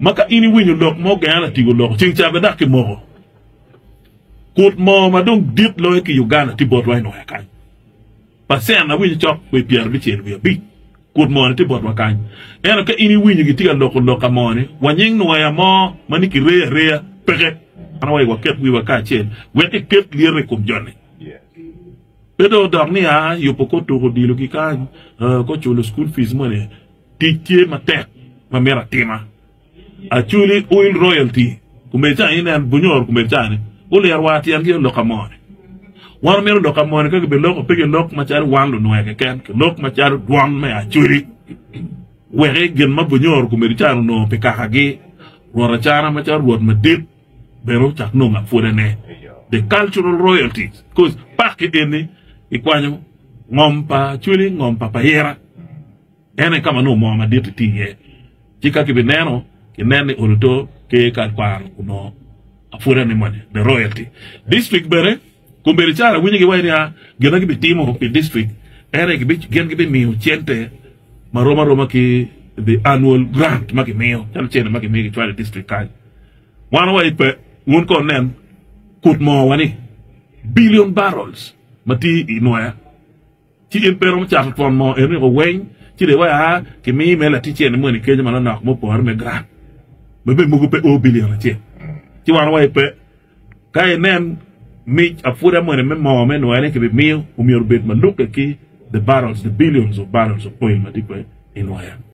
Ma ka in iwinyo lok mo genga latingo loko ceng cabe dok kimoko kut mo ma dong dit loyo ki Uganda tye botwa i loya kany percent awinyo cok kwee pyera abicel wiye abic kut moni tye botwa kany ento ka in iwinyo gitye ka loko lok ka moni wanying nwoya mo ma ni kireyo areya peke an awaco waket wiwa kacel wek iket lyete i kom joni pe dong odok ni aa yubo kor tuko odilo gi kany kor culo school fees moni. Tic tye matek ma myero atima. Aculi Oil Royalty kume ca ni nen Bunyoro kume ca ni guliro wa tyen gi olok amoni. Wan omyero olok amoni ka kibi loko pe ki lok macalo wan lunwe keken ki lok macalo dwon me Aculi weki gin ma Bunyoro kume di ca ni onongo pi kaka gi Rwot Acana macalo Rwot madit bene ocak nongo apwode ne The Cultural Royalties coz paki eni ikwanyo ngom pa Aculi ngom pa Payira. En aye ka ma nongo moo madit-ti tye iye. Ci ka kibineno, kinen ni ot oto ki kal kwaro onongo apwoda ni moni, the royalty. District bene, kombeddi cara awinyo giwaco nia gin ma gibitimo pi district en aye gin gibimiyo cente ma rom aroma ki the annual grant ma gimiyo calo cene ma gimiyo gicwalo i district kany. Wan wawaco pe, wun kono wunen kut moo wa ni billion barrels ma tye i nwaya. Ci in pe iromo cato twon mo eno i oweny, ci riwaya kimiyi me latic eni moni i kenyo manonok me opore me grant ma bene mogo pe o bilion acel. Ci wan wa ipe. Ka inen mic apwuda moni me moo me nwaya ni kibimiyo, omyero obed malukke ki the barrels, the billions of barrels of oil ma tye kwe i nwaya.